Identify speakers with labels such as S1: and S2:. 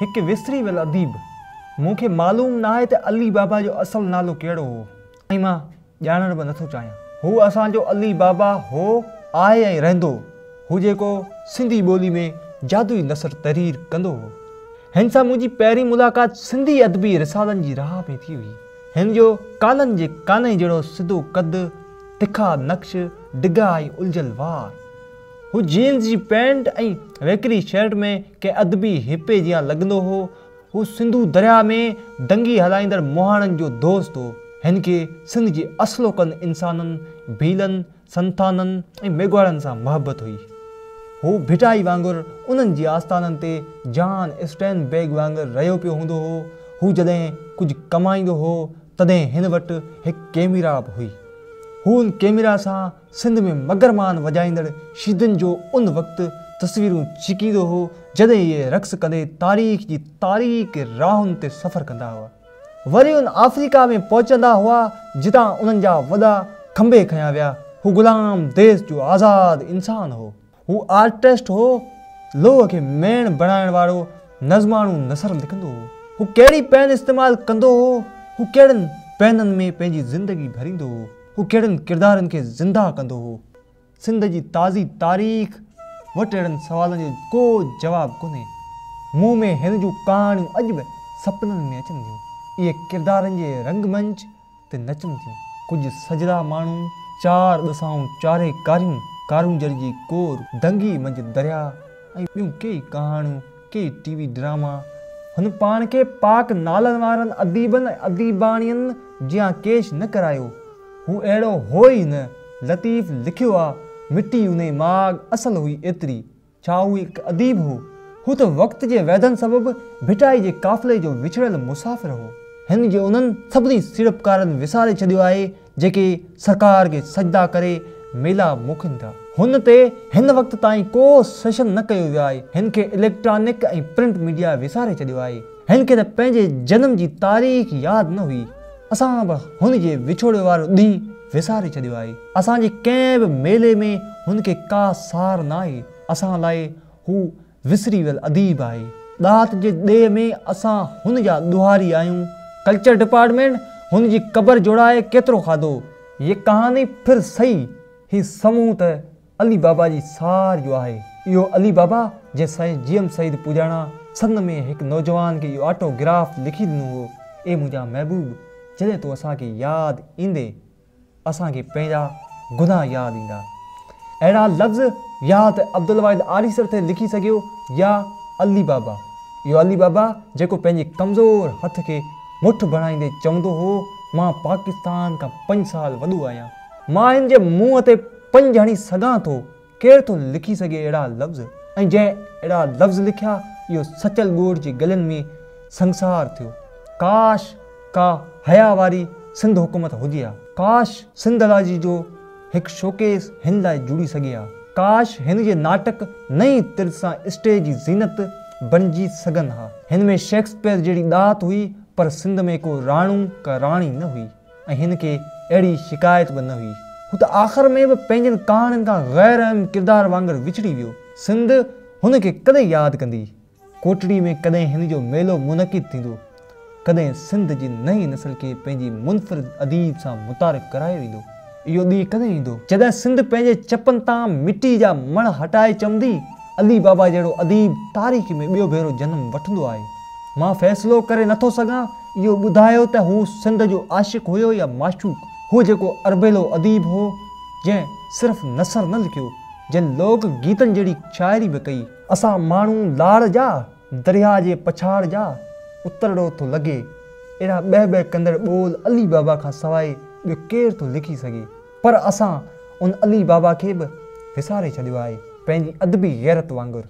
S1: هڪ وسري ويل اديب. مون کي معلوم ناهي ته علي بابا جو اصل نالو ڪهڙو هو ۽ مان ڄاڻڻ به نٿو چاهيان. هو اسان جو علي بابا هو، آهي ۽ رهندو. هو جيڪو سنڌي ٻولي ۾ جادوئي نثر تحرير ڪندو هو. هن سان منهنجي پهرين ملاقات سنڌي ادبي رسالن جي راهه ۾ ٿي هئي. هن جو ڪانن جي ڪانئن جهڙو سڌو قد، تکا نقش، ڊگها ۽ الجهيل وار. هو جينز جي پينٽ ۽ ويڪري شرٽ ۾ ڪنهن ادبي هپي جيان لڳندو هو. هو سنڌو درياهه ۾ ڊنگي هلائيندڙ مهاڻن جو دوست هو. هن کي سنڌ جي اصلوڪن انسانن، ڀيلن، سنٿانن ۽ ميگهواڙن سان محبت هئي. هو ڀٽائي وانگر انهن جي آستانن تي جان اسٽين بيگ وانگر رهيو پيو هوندو هو. هو جڏهن ڪجهه ڪمائيندو هو، تڏهن هن وٽ هڪ ڪئميرا به هئي. هو ان ڪئميرا سان سنڌ ۾ مگر مان وڄائيندڙ شيدن جو ان وقت تصويرون ڇڪيندو هو جڏهن اهي رقص ڪندي تاريخ جي تاريڪ راهن تي سفر ڪندا هئا. وري ان آفريڪا ۾ پهچندا هئا جتان انهن جا وڏا کنڀي کنيا ويا. هو غلام ديس جو آزاد انسان هو. هو آرٽسٽ هو، لوهه کي ميڻ بڻائڻ وارو نظماڻو نثر لکندو هو، هو ڪهڙي پين استعمال ڪندو هو، هو ڪهڙن پينن ۾ پنهنجي زندگي ڀريندو هو، هو ڪهڙن ڪردارن کي زنده ڪندو هو، سنڌ جي تازي تاريخ وٽ اهڙن سوالن جو ڪو جواب ڪونهي. مون ۾ هن جون ڪهاڻيون اڄ به سپنن ۾ اچن ٿيون. اهي ڪردارن جي رنگ منچ، تي نچن ٿيون. ڪجهه سجھرا ماڻهو چار ڏسائون چاري ڪاريون، ڪارونجهر جي ڪور، دنگي منجهه دريا ۽ ٻيون ڪيئي ڪهاڻيون، ڪيئي ٽي وي ڊراما. هن پاڻ کي پاڪ نالن وارن اديبن ۽ اديباڻين جيان ڪيش نه ڪرايو. هو اهڙو هو ئي نه. لطيف لکيو آ، مٺي انهي ماڳ اصل هئي ايتري، ڇا هو هڪ اديب هو؟ هو ته وقت جي ويڌن سبب ڀٽائي جي قافلي جو وڇڙيل مسافر هو. هن جي انهن سڀني سيڙپڪارن وساري ڇڏيو آهي، جيڪي سرڪار کي سجدا ڪري ميلا موڪين ٿا. هن تي هن وقت تائين ڪو سيشن نه ڪيو ويو آهي. هن کي اليڪٽرانڪ ۽ پرنٽ ميڊيا وساري ڇڏيو آهي. هن کي ته پنهنجي جنم جي تاريخ ياد نه هئي. اسان به هن جي وڇوڙي وارو ڏينهن وساري ڇڏيو آهي. اسان جي ڪنهن به ميلي ۾ هن کي ڪا سار ناهي. اسان لاء هو وسري ويل اديب آهي. ڏات جي ڏيهه ۾ اسان هن جا ڏوهاري آهيون. ڪلچر ڊپارٽمينٽ هن جي قبر جوڙائي ڪيترو کاڌو. يه ڪهاني پھر سھي هي سمون ته علي بابا جي سار جو آهي. اهو علي بابا جنهن سائين جي ايم سعيد پوڄاڻا سن ۾ هڪ نوجوان کي اهو آٽو گراف لکي ڏنو هو، اي منهنجا محبوب جڏهن تون اسان کي ياد ايندين اسان کي پنهنجا گناهه ياد ايندا. اهڙا لفظ يا ته عبدالواحد آريسر ٿي لکي سگهيو يا علي بابا. اهو علي بابا جيڪو پنهنجي ڪمزور هٿ کي مٺ بڻائيندي چوندو هو مان پاڪستان کان پنج سال وڏو آهيان. مان هن جي منهن تي پنج هڻي سگهان ٿو، ڪير ٿو لکي سگهي اهڙا لفظ ۽ جنهن اهڙا لفظ لکيا اهو سچل ڳوڙهه جي ڳلن ۾ سنگسار ٿيو. ڪاش ڪا حيا واري سنڌ حڪومت هجي ها. ڪاش سنڌالاجي جو هڪ شوڪيس هن لاء جڙي سگهي ها. ڪاش هن جي ناٽڪ نئين طرز سان اسٽيج جي زينت بڻجي سگهن ها. هن ۾ شيڪسپيئر جهڙي ڏات هئي پر سنڌ ۾ ڪو راڻو ڪا راڻي نه هئي. ۽ هن کي اهڙي شڪايت به نه هئي. هو ته آخر ۾ به پنهنجين ڪهاڻين کان غير اهم ڪردار وانگر وڇڙي ويو. سنڌ هن کي ڪڏهن ياد ڪندي؟ ڪوٽڙي ۾ ڪڏهن هن جو ميلو منعقد ٿيندو؟ ڪڏهن سنڌ جي نئين نسل کي پنهنجي منفرد اديب سان متعارف ڪرايو ويندو؟ اهو ڏينهن ڪڏهن ايندو؟ جڏهن سنڌ پنهنجي چپن تان مٽي جا مڙهه هٽائي چمندي، علي بابا جهڙو اديب تاريخ ۾ ٻيو ڀيرو جنم وٺندو آهي. مان فيصلو ڪري نه ٿو سگهان، اهو ٻڌايو ته هو سنڌ جو عاشق هيو يا معشوق، هو جيڪو اربيلو اديب هو، جنهن صرف نثر نه لکيو، جنهن لوڪ گيتن جهڙي شاعري به ڪئي. اسان ماڻهو لاڙ جا، درياء جي پڇاڙ جا اترڙو ٿو لڳي، اهڙا ٻهه ٻهه ڪندڙ ٻول علي بابا کان سواء ٻيو ڪير ٿو لکي سگهي؟ پر اسان ان علي بابا کي به وساري ڇڏيو آهي، پنهنجي ادبي غيرت وانگر.